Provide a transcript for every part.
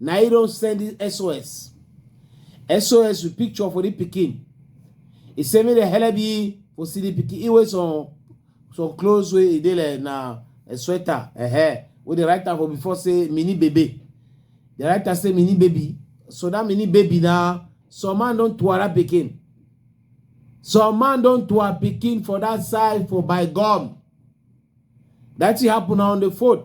na he don send the sos sos with picture for the pikin he say make dem help you for see the pikin he wear some some clothes wey e dey like na a sweater uh -huh, wey dey write am for before say mini baby dey write am say mini baby so that mini baby na some man don tuara pikin some man don tuara pikin for that side for by gum that thing happen na on the fourth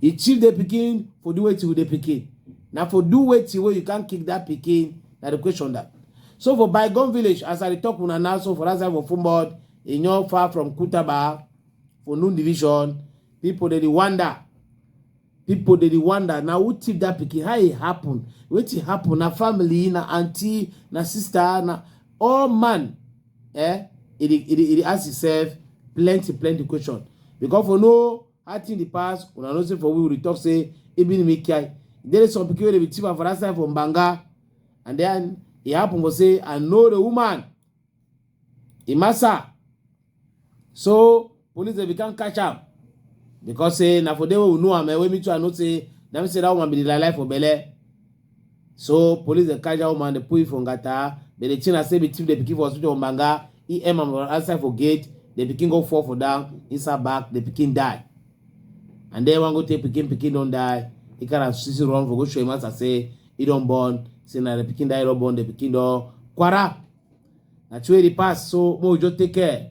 He chief the pikin for do wetin with the pikin. Now for do wetin where you can't kick that pikin. Now the question that. So for Bygone Village, as I talk una now, so for that side for Fumod, in your far from Kutaba, for Noon Division, people they wonder. People they wonder. Now who tip that pikin? How it happen? What it happen? Na family, na auntie, na sister, na all man eh e dey e dey e dey ask himself plenty plenty question because for no how thing dey pass una know say for we we dey talk say ibn mikai there is some pikin wey dey be thief for that side for mbanga and then e happen for say i know the woman imasa so police dey become catch am because say na for there wey we know am eh, wey me too i know say na me say that woman be the lie for belle so police dey catch that woman dey put it for ngata but the thing na say be thief dey pikin for hospital for manga he aim am outside for gate the pikin go fall for down inside back the pikin die and then one go take pikin pikin don die he carry am sisi run for go show him master say e don born say na the pikin that e don born the pikin don kwara na true e dey pass so make we just take care